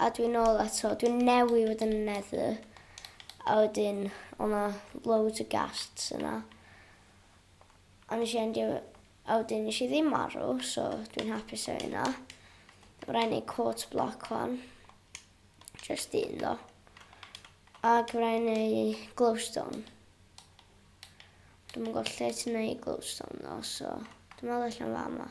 A dwi'n nôl eto, dwi'n newi fod yn nether. A wedyn, o'na loads o ghasts yna. A nes i endio, a wedyn nes i ddim marw, so dwi'n hapus o hynna. Mae'n rhaid neud court block o'n. Just un ddo. Ac mae'n rhaid neud glowstone. Dwi'n mwyn gwybod lle ti'n neud glowstone ddo, so dwi'n meddwl allan fa yma.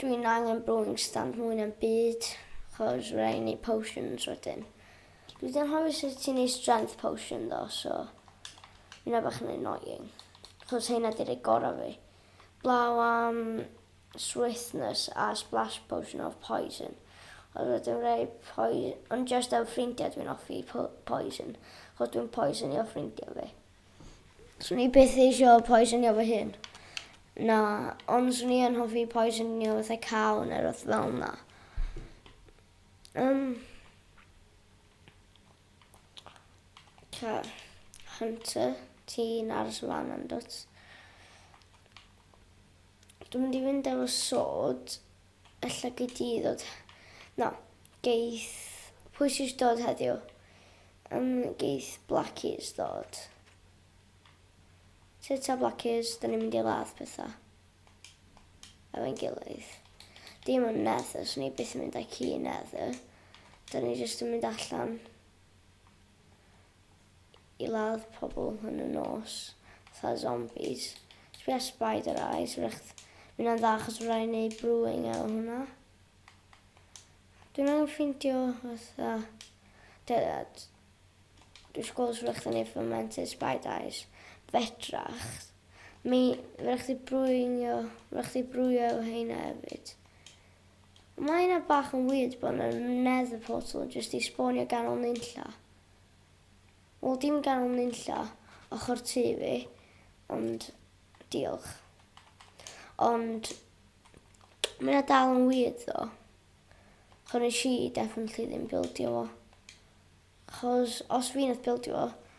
Dwi'n angen brewing stand mwy na'm byd, chos fydda i'n neud potions wedyn. Dwi 'di anghofio sut ti'n neud strength potion ddo, so hynna bach yn annoying. Chos hynna 'di rei gorau fi. Blaw am swiftness a splash potion of poison. Ond wedyn rei poison, ond just am ffrindiau dwi'n offi poison, chos dwi'n poisonio ffrindiau fi. Swn i byth eisio poisonio fy hun. Na, ond swn i yn hoffi poisonio fatha caw neu rhywbeth fel yna. Um, ca, Hunter, ti'n aros y fan yn dod. Dwi'n mynd i fynd efo sod. Ella gei di ddod. Na, geith... Pwy sy isio dod heddiw? Yym, geith Blackies ddod. Lle ta Blackies? Da ni'n mynd i ladd pethau. Efo'n gilydd. Dim yn nether, so ni byth yn mynd â ci nether. Da ni jyst yn mynd allan. i ladd pobl yn y nos, fatha zombies. Sbia spider eyes, wrach mae hynna'n dda achos fydda i'n neud brewing efo hwnna. Dwi'n angen ffeindio fatha... Dydad. Dwi'n sgol os wrach yn ei fermented spider eyes. Fedrach. Mi, fydda chdi brewing o, fydda chdi brewio efo heina hefyd. Mae hynna bach yn weird bod yna nether portal jyst i sbonio ganol nunlla. Wel dim gan nunlla ochr tŷ fi ond diolch. Ond mae yna dal yn weird ddo. Chos nes i definitely ddim bildio fo. Chos os fi nath bildio fo,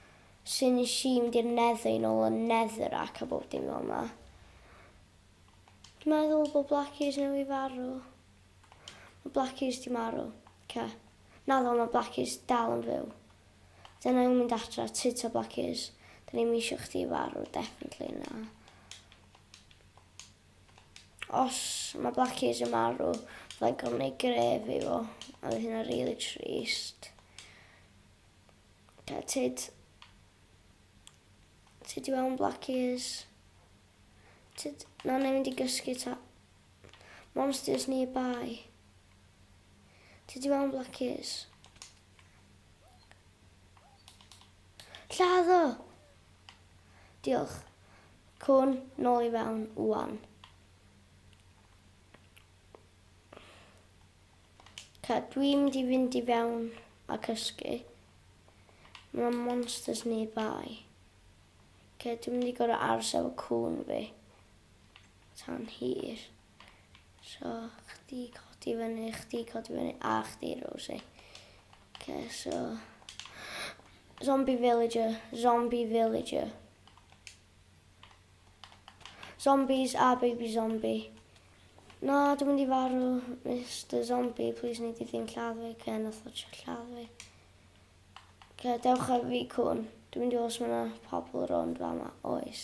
sy'n nes i mynd i'r nether i nôl y nether ac a bob dim fel yna. Meddwl bod Blackies newydd farw. Mae Blackies 'di marw. Oce. Naddo, mae Blackies dal yn fyw. Dyna ni'n mynd adra, tŷ ta Blackies. Da ni'm eisiau chdi farw, definitely na. Os mae Blackies yn marw, fydda i'n gorfod gwneud gref i fo. A fydd hynna really trist. Oce, tyd. Tyd i fewn Blackies. Tyd, na, na, mynd i gysgu ta. Monsters nearby. Ti di mewn Black Keys? Lladd o! Diolch. Cwn, nôl i fewn, wan. Ca, dwi'n mynd i fynd i fewn a cysgu. Mae monsters nearby. Ca, dwi'n mynd i gorau aros efo cwn fi. tan hir. So, chdi codi fyny, chdi codi fyny, a chdi, Rosie. Okay, so... Zombie villager, zombie villager. Zombies a baby zombie. Na, dwi'n mynd i farw, Mr Zombie, please nid i ddim lladd fi, ce, nath o trio lladd fi. Ce, dewch ar fi cwn, dwi'n mynd i os mae yna pobl rond fa yma, oes.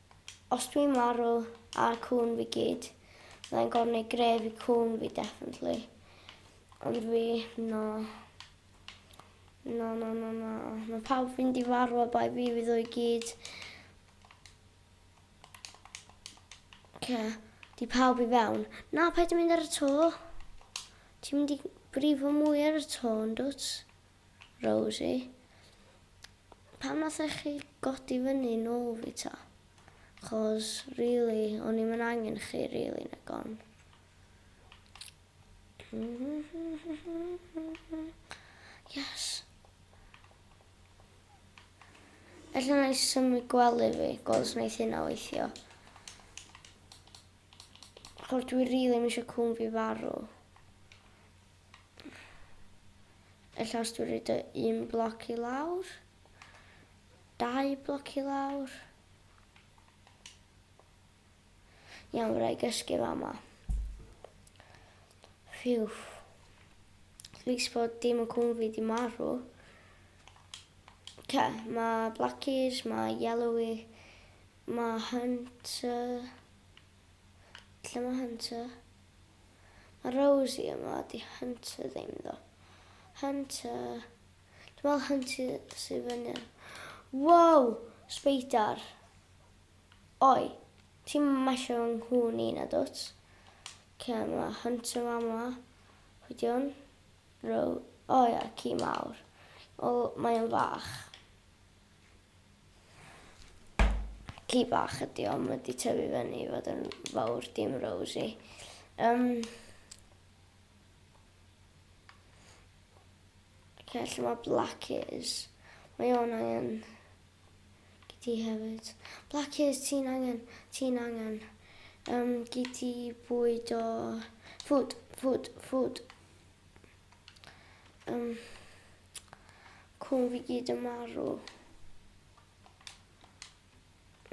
Os dwi'n marw a'r cŵn fi gyd fyddai'n gorneu gref i cŵn fi definitely. Ond fi, na. Na, na, na, na. Mae pawb fi'n di farw a bai fi fi ddwy gyd. Oce, di pawb i fewn. Na, paid yn mynd ar y to. Ti'n mynd i brifo mwy ar y to, yn dwt? Rosie. Pam nathech chi godi fyny nôl fi ta? Chos rili, o'n i'm yn angen chi rili yn y gon. Yes. Ella na i symud gwely fi, gweld wneud hynna weithio. Chos dwi rili really eisiau cwn fi farw. Y llawr dwi'n rhaid o un bloc i lawr. Dau bloc i lawr. Iawn, rhaid gysgu fa ma. Phew. Lys bod dim yn cwn fi di marw. Ce, mae blackies, mae yellowy, mae hunter. Lle mae hunter? Mae Rosie yma, 'di Hunter ddim ddo. Hunter... Dwi'n meddwl Hunter sydd fyny. Wow! Speidar. Oi, ti'n masio yng nghŵn i na dwt? Ce, mae Hunter yma yma. Pwy di hwn? Ro... O ia, ci mawr. O, mae'n fach. Ci bach ydi o, mae wedi tyfu fyny i fod yn fawr, dim Rosie. Um, okay, lle mae Black is. Mae o'n angen giti hefyd. Black is, ti'n angen, ti'n angen um, giti bwyd o food, food, food. Um, Cwn fi gyd yn marw.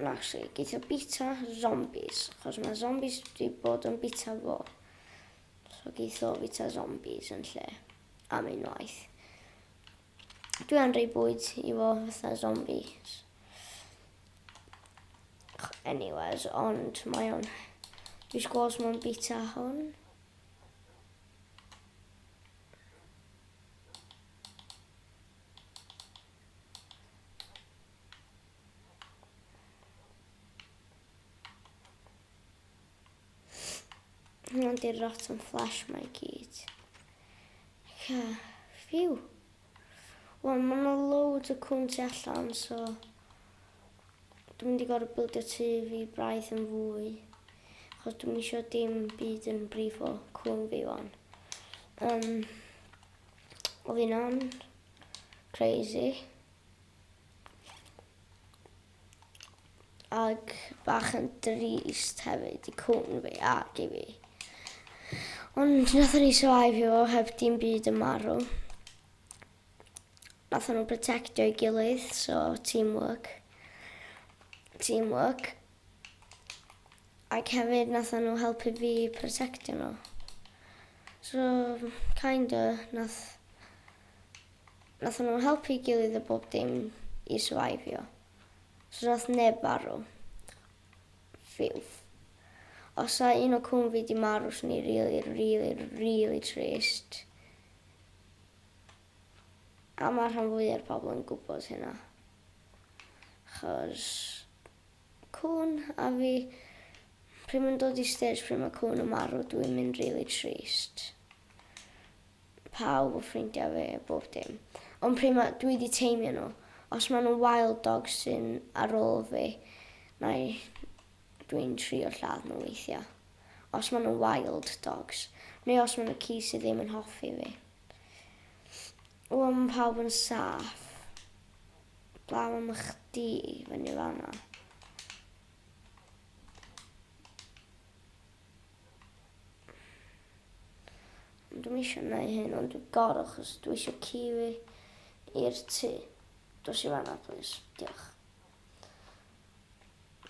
Actually, geith o bita zombies, achos mae zombies wedi bod yn bita fo. So geith o bita zombies yn lle am unwaith. Dwi am rei bwyd i fo fatha zombies. Anyways, ond mae o'n... Dwi'n sgwrs mae'n bita hwn. Hwna'n di'r rotten flash mae gyd. Ca, ffiw. Wel, mae yna loads o cwn tu allan, so... Dwi'n mynd i gorfod bildio tŷ fi braidd yn fwy, achos dwi'm isio dim byd yn brifo cŵn fi wan. Um, o fi hynna'n crazy. Ac bach yn drist hefyd i cŵn fi ac i fi. Ond nath ni survive o heb dim byd yn marw. Nathon nhw protectio'i gilydd so team work team work ac hefyd nathon nhw helpu fi protectio nhw so kind o' nath nathon nhw helpu'i gilydd a bob dim i syfaifio so nath neb farw phew os sa un o cŵn fi di marw swn i rili rili rili trist. A mae rhan fwya'r pobl yn gwybod hynna. Achos cŵn a fi, pryd mae'n dod i stêj pryd mae cŵn yn marw dwi'n mynd rili trist. Pawb o ffrindiau fi, bob dim. Ond pryd mae, dwi wedi teimio nhw. Os maen nhw'n wild dog sy'n ar ôl fi, nai, dwi'n trio lladd nhw weithiau. Os maen nhw'n wild dogs. Neu os maen nhw ci sydd ddim yn hoffi fi. Wel ma' pawb yn saff. Blaw am chdi fyny fan'na. Ond dwi'm isio neu hyn ond dwi gor'o' achos dwi isio ci fi i'r tŷ. Dos i fan'na plîs. Diolch.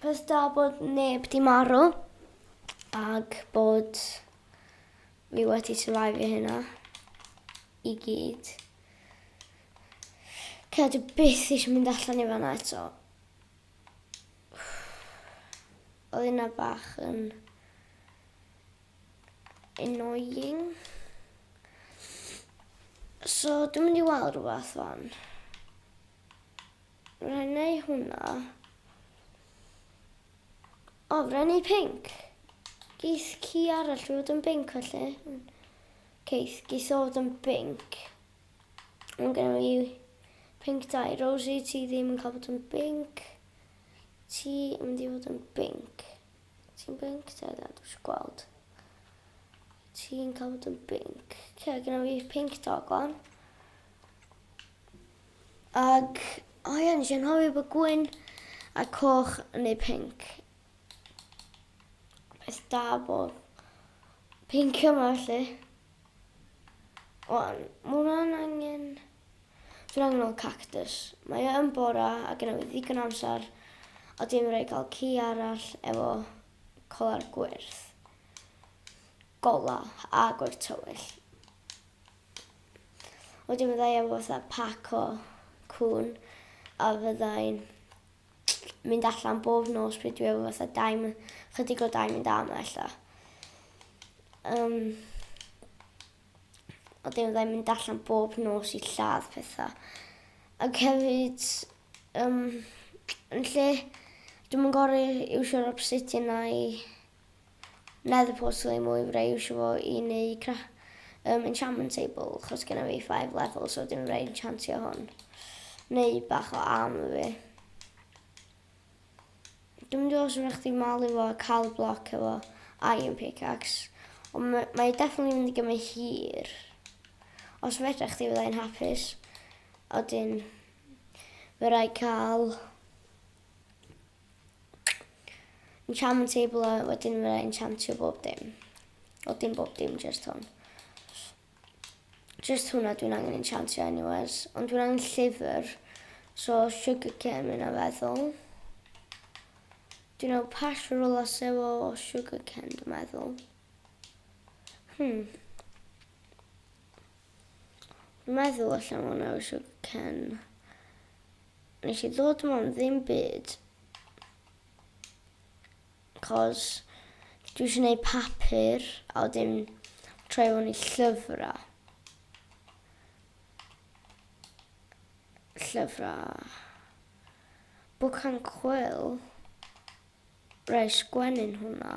Bys da bod neb di marw ag bod fi wedi survivio hynna i gyd. Cea dwi byth eisiau mynd allan i fanna eto. Oedd yna bach yn annoying. So dwi'n mynd i weld rhywbeth fan. Rhaid neu hwnna. O, rhaid neu pink. Geith ci arall fod yn binc felly. Geith, geith o fod yn binc. Ond gen i pink dau. Rosie, ti ddim yn cael bod yn binc. Ti yn mynd i fod yn binc. Ti'n binc, Dylan, dwi'n siarad gweld. Ti'n cael bod yn binc. Ce, gen i pink dog o'n. Ac o ie nes i anghofio bod gwyn a coch neu pink. Peth da bod pink yma felly. Wan, mae hwnna'n angen... Dwi'n angen o'n cactus. Mae e yn bora a gyda fi ddigon amser a dwi'n mynd i gael ci arall efo colar gwyrdd. Gola a gwyrdd tywyll. Wedyn fydda i efo fatha pac o cŵn a fydda i'n mynd allan bob nos pryd dwi efo fatha dau my- chydig o dau mynd am ella. Um, a dim fydda i'n mynd allan bob nos i lladd pethau. Ac hefyd, um, yn lle, dwi'n yn gorau iwsio'r obsidian na i Nether portal i mwy fydda i iwsio fo i neu cra um, enchantment table chos gen i fi 5 level so dim fydda i enchantio hwn. Neu bach o armor fi. Dwi'n mynd i os ydych chi malu fo a cael bloc efo iron pickaxe. Ond mae, mae definitely mynd i gymryd hir. Os fedra chdi fydda i'n hapus. Oedyn, fe rai cael Enchantment table a wedyn fe enchantio bob dim. O dim bob dim, just hwn. Just hwnna dwi'n angen enchantio anyways. Ond dwi'n angen llyfr. So sugar cane mynd a feddwl. Dwi'n angen pash for all as efo sugar cane dwi'n meddwl. Hmm. meddwl allan o'n awr eisiau cen. Nes i ddod yma am ddim byd. Cos dwi eisiau gwneud papur a wedyn troi hwn i llyfrau. Llyfrau. Book and Quill. Rai sgwennu'n hwnna.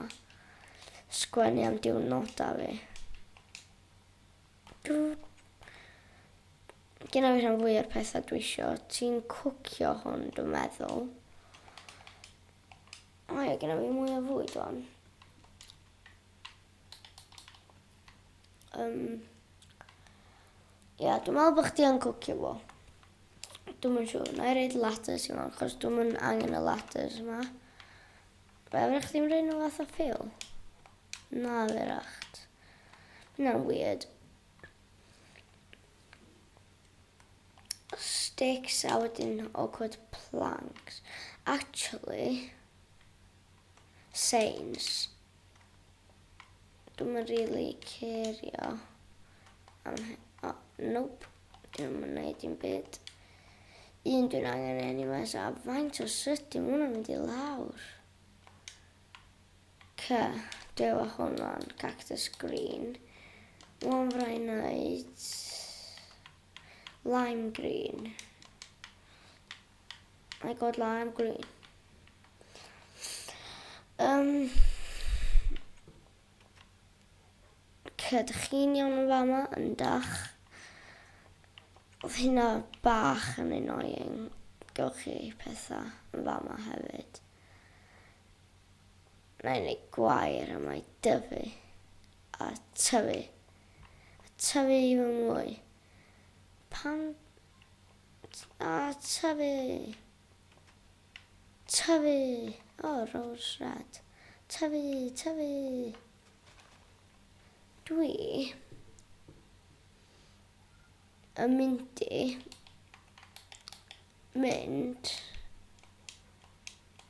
Sgwennu am diwrnodau fi. Dw... Gynna fi rhan fwy o'r pethau dwi isio. Ti'n cwcio hwn, dwi'n meddwl. O ie, gynna fi mwy o fwyd o'n. Um, Ia, dwi'n meddwl bod chdi yn cwcio fo. Dwi'n mynd siŵr. Na i reid lattes i mewn, chos dwi'n mynd angen y lattes yma. Fe fyrwch chdi'n rhaid nhw fath o ffil? Na, fyrwch. Hwnna'n weird. Sticks a wedyn awkward planks. Actually, sains. Dwi'n yn really cerio am hyn. Oh, nope. Dwi'n yn neud i'n byd. Un dwi'n angen anyway, so a faint o sut dim hwnna'n mynd i lawr. Ca, dew a honfan, cactus green, warm fry night, lime green. I got lime green. Um, Ca, dych chi'n iawn yn fama, yn dach. Oedd hynna bach yn annoying. Gewch chi pethau yn fama hefyd. Mae'n ei gwair am ei dyfu a tyfu a tyfu i fy mwy. Pan a tyfu, tyfu, o rose red, tyfu, tyfu. Dwi yn mynd i mynd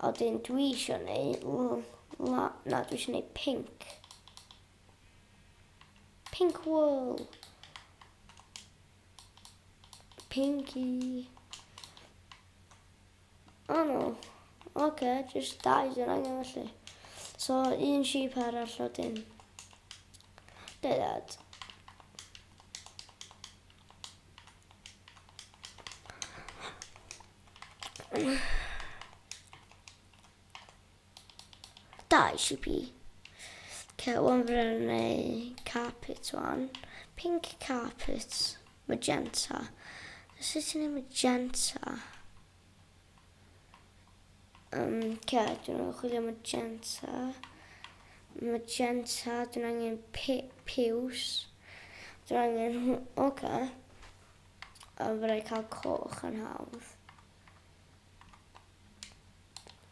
A dyn dwi isio neu... Na, na, dwi isio neu pink. Pink wool. Pinky. O oh, no. Oce, okay, just dau dyn angen felly. So, un sheep arall o dyn. Dau dad. Dau si pi. Cewon brynu carpet one. Pink carpet. Magenta. Sut ti'n ei magenta? Um, ce, dwi'n ei chwilio magenta. Magenta, dwi'n angen piws. Dwi'n angen... Oce. Okay. Yym fyddai cael coch yn hawdd.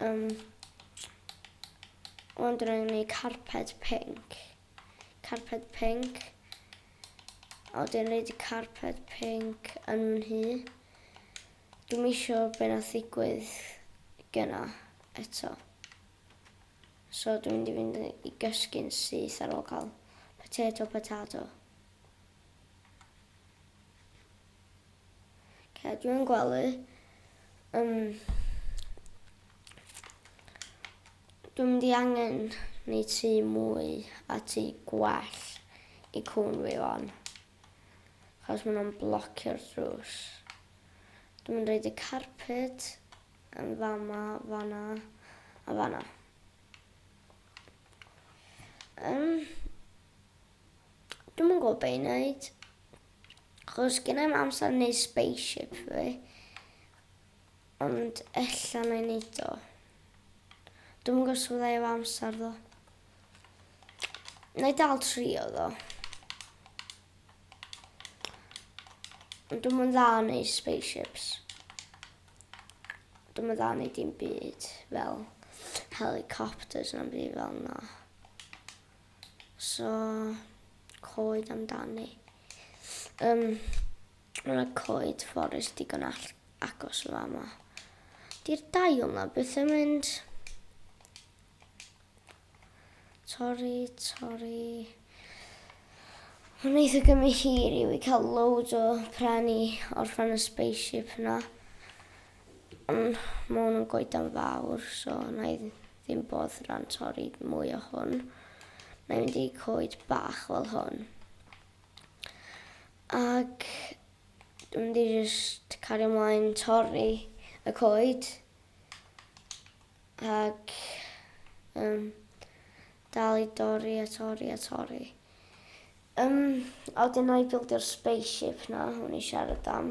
Yym ond rwy'n gwneud carped pink. Carped pink. A wedyn rhaid i carped pink yn fy nhŷ. Dwi'n eisiau beth na ddigwydd gyna eto. So dwi'n mynd i fynd i gysgu'n syth ar ôl cael potato potato. Cadw yn gwely. Um, dwi'n mynd i angen neu tu mwy a tu gwell i cwn fi fan. Chos maen nhw'n blocio'r drws. Dwi'n mynd reid y carpet yn fama, fanna a fanna. Um, Dwi'm yn gwybod be' i neud. Achos gynna i'm amser i neud spaceship fi. Ond ella na i neud o. Dwi'm yn gwybod sut fydda i efo amser ddo. Na i dal trio ddo. Ond dwi'm yn dda yn neud spaceships. Dwi'm yn dda yn neud dim byd fel helicopters na'm byd fel 'na. So, coed amdani. Um, mae yna coed fforest digon all agos o fama. Di'r dail na beth yn mynd. Torri, torri. Mae'n eitha gymryd hir i fi cael loads o pren i orffan y spaceship yna. Yym, ma' hwn yn goedan fawr, so na i ddim boddran torri mwy o hwn. Na i mynd i coed bach fel hwn. Ac dwi'n mynd i just cario ymlaen torri y coed. Ac um, dal i dorri a torri a torri. Um, a wedyn na i bildio'r spaceship na, hwn i siarad am.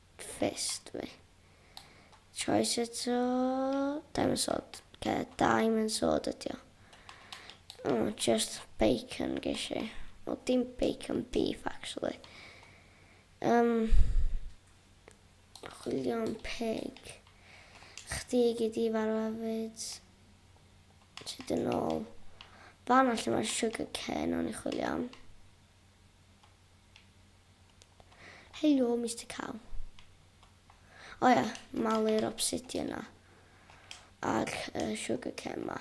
fist fi. Choice eto. Diamond sword. Oce, diamond sword ydi o. O, just bacon geis i. O, dim bacon beef, actually. Um, chwilio'n pig. Chdi gyd i farw hefyd. Ti dyn ôl. Fan allan mae'r sugar cane o'n i chwilio am. Helo Mister Cow. O ia, malu'r obsidian 'na. A'r uh, sugar cane 'ma.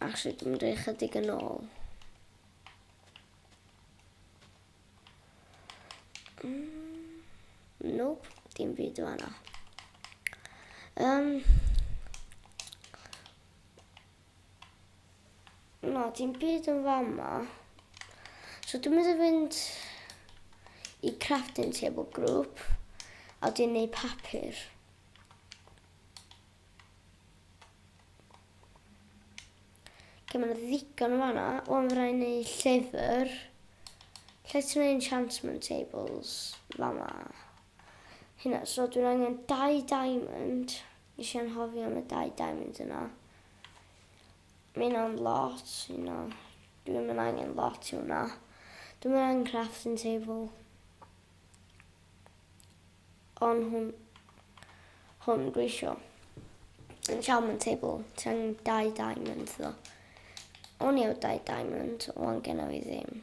Actually, dwi'n mynd i chydig yn ôl. Mm, nope, dim byd o yna. Um, Na, dim byd yn fama. So dwi'n mynd i fynd i crafting table group a dwi'n neud papur. Lle mae'n ddigon o fanna, o'n fyrra i neud llyfr. Lle ti'n neud enchantment tables? Fama. hynna so dwi'n angen dau diamond nes i anghofio am y dau diamond yna mae hynna'n lot hynna dwi'm yn angen lot i hwnna dwi'm yn angen crafting table on hwn hwn dwi isio enchantment table ti angen dau diamond ddo o'n i efo dau diamond wan genna fi ddim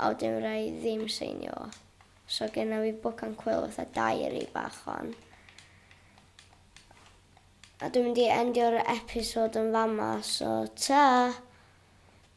Aww dim rai ddim seinio. So genna fi book and quill fatha diary bach wan. A dwi'n mynd i endio'r episode yn fama so ta!